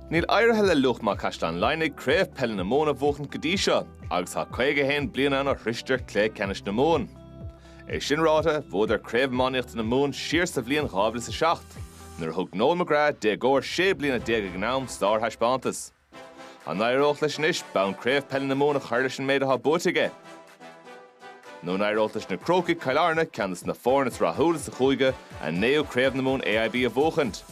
Níl éirithe le Luachma Caisleán Laighnigh Craobh Peile na Mumhan a bhuachaint go dtí seo agus tá 51 bliain ann ó shroicheadar cluiche ceannais na Mumhan. É sin ráite, bhuadar Craobh Iománaíochta na Mumhan siar sa bhliain 2007, nuair a thug Noel McGrath, déagóir sé bliana déag ag an am, sárthaispeántas. An éireoidh leis anois bonn Craobh Peile na Mumhan a chur leis an méid atá buaite aige? Nó an éireoidh leis na Crócaigh, Cill Airne, ceann de na foirne is rathúla sa chúige, a naoú Craobh na Mumhan AIB a bhuachaint?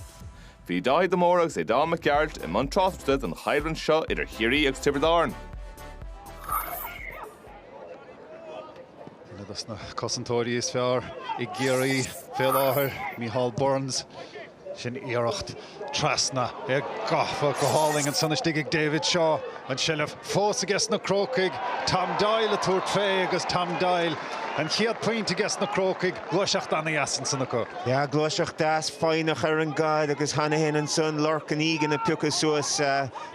Bhí Dáithí de Mórdha agus Aodán Mac Gearailt i mbun tráchtaireachta don choimhlint seo idir Chiarraí agus Tiobraid Árann. Duine dos na cosantóirí is fearr i gCiarraí fé láthair, Micheál Burns. Sin iarracht trasna gafa go hálainn ansan istigh ag David Shaw. An tseilbh fós aige sna Crócaigh. Tom Doyle ag tabhairt fé agus Tom Doyle an chéad phointe aige sna Crócaigh. Gluaiseacht ana-dheas ansan acu. Yeah, gluaiseacht deas foighneach ar an gcaid agus cheana féin ansan, Lorcan Egan ag piocadh suas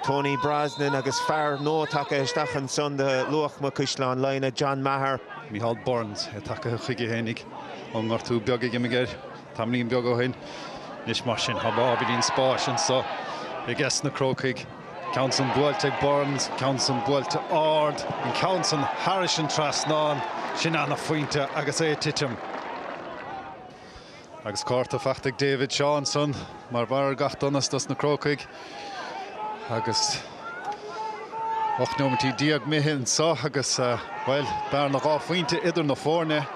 Tony Brosnan agus fear nua tagtha isteach ansan do Luachma, Caisleán Laighnigh, John Meagher. Micheál Burns, é tagtha chuige fhéinig ón ngortú beag a d'imigh air. Tamaillín beag ó shin. Anois mar sin, tá ábhairín spáis anseo aige sna Crócaigh. Ceann san buailte ag Burns, ceann san buailte ard, an ceann san thairis an trasnán. Sin an-phointe agus é ag titim. Agus cárta fachta ag David Shaw ansan. Mar bharr ar gach donas dos na Crócaigh agus 18 nóimintí imithe anseo agus, bhuel, bearna dhá phointe idir na foirne.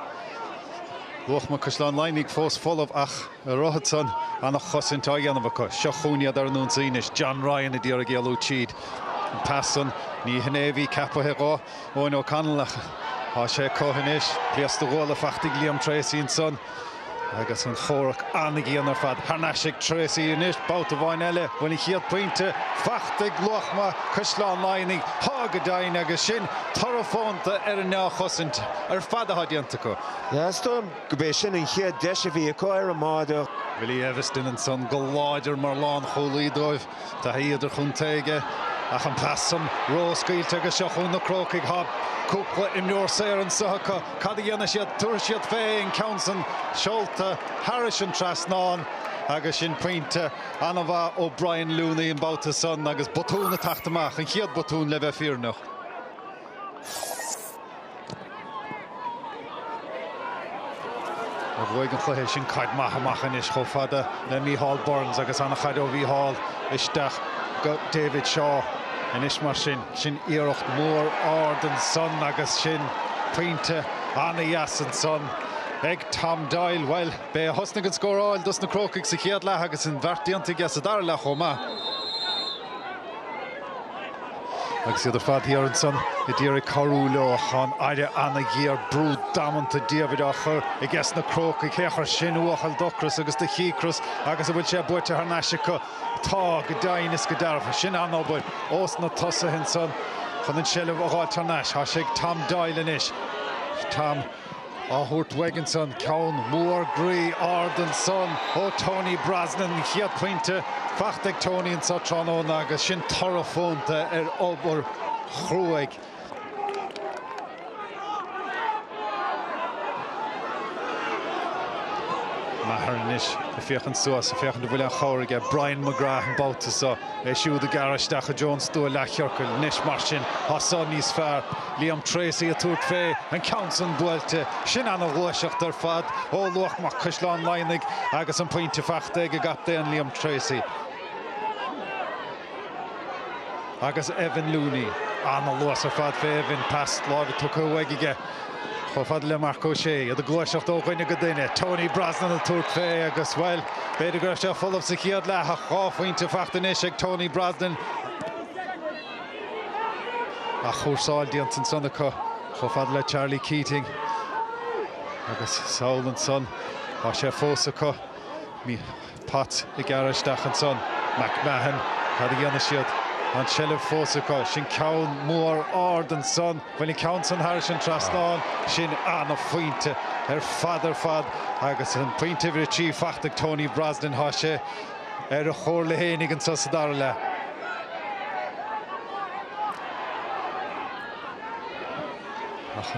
Luachma, Caisleán Laighnigh fós folamh ach ar a shon san, ana-chosaint á dhéanamh acu. Seo chugainn iad ar an ionsaí anois, John Ryan a d'iarraidh éalú tríd an pas san. Ní hin é a bhí ceapaithe dhó. Eoin O'Connell ach tá sé acu anois. Pléasc do ghuala fachta ag Liam Treacy ansan agus an chomhrac ana-dhian ar fad thar n-ais ag Treacy anois. Babhta amháin eile bhfuil an chéad pointe fachta ag Luachma, Caisleán Laighnigh. Tá go deimhin agus sin toradh fónta ar an ndea-chosaint ar fad atá déanta acu. Yeah, is dóigh liom gurb é sin an chéad deis a bhí acu ar an mbáide. Willie Eviston ansan go láidir mar lánchúlaí dóibh. Taithí idirchontae aige ach an pas san ró-scaoilte agus seo chugainn na Crócaigh. Tá cúpla imreoir saor anseo acu. Cad a dhéanfaidh siad? Tabharfaidh siad fé an ceann san seolta thairis an trasnán agus sin pointe an-mhaith ó Brian Looney an babhta san agus botún ag teacht amach, an chéad bhotún le bheith fírinneach. a bhuaigh an cluiche sin caid maith amach anois chomh fada le Micheál Burns agus an-chaid ó Micheál isteach go David Shaw anois mar sin. Iarracht mhór ard ansan agus sin pointe an-dheas ansan ag Tom Doyle. Bhuel, b'é a thosnaigh an scóráil dos na Crócaigh sa chéad leath agus an bheart déanta aige sa dara leath chomh maith. Agus iad ar fad thiar ansan i dtír ag cabhrú leo chun a rá ana-ghéar brú damanta diamhair á chur ages na Crócaigh thá a chur sin uafás d'ocras agus do chíocras agus a bhfuil sé buaite thar n-ais acu. Tá, go deimhin is go dearfa, sin an-obair ós na tosaithe ansan chun an seilbh a fháil thar n-ais. Tá sé ag Tom Doyle anois. Tom. á thabhairt uaidh ansan. Ceann mór groí ard ansan ó Tony Brosnan. An chéad pointe fachta ag Tony anseo tráthnóna agus sin toradh fónta ar obair chruaidh. Maher anois ag féachaint suas, ag féachaint an bhfuil aon chabhair aige. Brian McGrath an babhta seo. é siúd ag gearradh isteach i dtreo an stua leathchiorcail anois mar sin. Tá san níos fearr. Liam Tracey ag tabhairt fé an ceann san buailte. Sin ana ghluaiseacht ar fad ó Luachma Caisleán Laighnigh agus an pointe fachta ag a gcaptaen Liam Tracey. Agus Evan Looney. Ana luas ar fad fé Evan. Pas láimhe tugtha uaidh aige. Chomh fada le Marc Ó Sé, iad ag gluaiseacht ó dhuine go duine. Tony Brosnan ag tabhairt fé agus, bhuel, b'fhéidir go raibh sé folamh sa chéad leath ach dhá phointe fachta anois ag Tony Brosnan, athchúrsáil déanta ansan acu chomh fada le Charlie Keating agus sall ansan, tá sé fós acu. Potts ag gearradh isteach ansan. McMahon, cad a dhéanfaidh siad? Tá an tseilbh fós acu. Sin ceann mór ard ansan. Bhuail an ceann san thairis an trasnán. Sin an-phointe ar fad ar fad agus an pointe uimhir a trí fachta ag Tony Brosnan. Tá sé ar a chomhairle fhéinig anso sa dara leath. Ach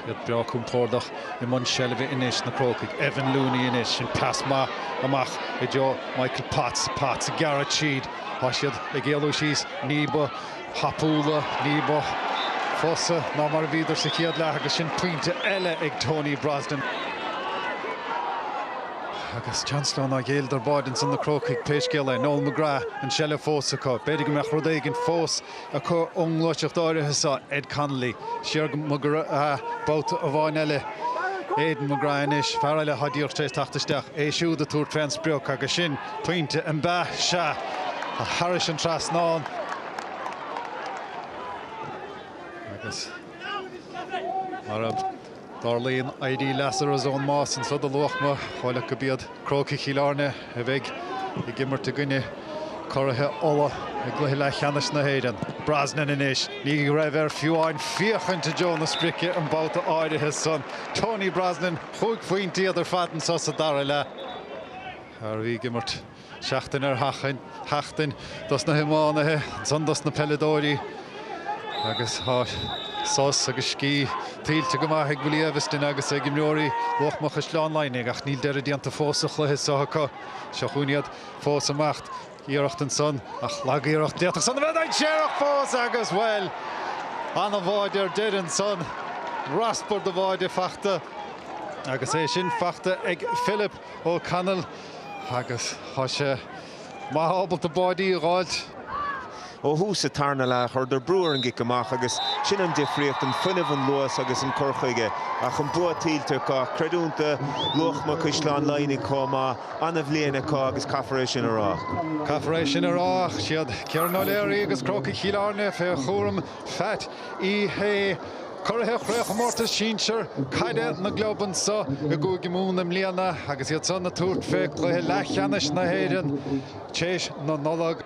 iad breá compordach i mbun seilbhe anois, na Crócaigh? Evan Looney anois, sin pas maith amach i dtreo Michael Potts. Potts ag gearradh tríd. Tá siad ag éalú síos ní ba thapúla, ní ba fusa ná mar a bhíodar sa chéad leath agus sin pointe eile ag Tony Brosnan. Agus seans leo nár ghéilleadar báide ansan na Crócaigh pé scéal é. Noel McGrath, an tseilbh fós acu. B'fhéidir go mbeadh rud éigin fós acu ón ngluaiseacht áirithe seo, Ed Connolly, siar go McGrath babhta amháin eile, Aidan McGrath anois, fear eile atá díreach tar éis teacht isteach, é siúd ag tabhairt fé an sprioc agus sin pointe an ea, sea, thar an trasnán agus mar a. Tarlaíonn éirí Lazarus ón mbás anseo do Luachma. Shíleas go b'iad Crócaigh Chill Airne a bheidh ag imirt i gcoinne curaithe Uladh i gcluiche leathcheannais na hÉireann. Brosnan anois. Ní raibh air fiú amháin féachaint i dtreo na sprice an babhta áirithe san. Tony Brosnan, chúig phointe iad ar fad anseo sa dara leath. Fear a bhí ag imirt. Seachtain ar sheachtain dos na hiománaithe, ansan dos na peileadóirí agus tá sos agus scíth tuillte go maith ag Willie Eviston agus ag imreoirí Luachma Chaisleán Laighnigh ach níl deireadh déanta fós sa chluiche seo acu. Seo chugainn iad fós amach, iarracht ansan ach lag-iarracht, d'fhéadfadh san a bheith dainséarach fós agus, bhuel, an-bháide ar deireadh ansan, raspar de bháide fachta agus é sin fachta ag Philip. O'Connell agus tá sé maith ábalta báidí a dh'fháilt. Ó thús sa tarna leath, chuireadar brú ar an gcic amach agus sin an difríocht, an fuinneamh, an luas agus an cur chuige. Ach an bua tuillte acu. Creidiúint do, Luachma, Caisleán Laighnigh chomh maith. Ana-bhliain acu agus caithfear é sin a rá. Caithfear é sin a rá. Siad Ciarán O'Leary agus Crócaigh Chill Airne fé chúram Phat Uí Shé, curaithe Chraobhchomórtas Sinsear Caide na gClub anso i gCúige Mumhan i mbliana agus iad san ag tabhairt fé cluiche leathcheannais na hÉireann théis na Nollag.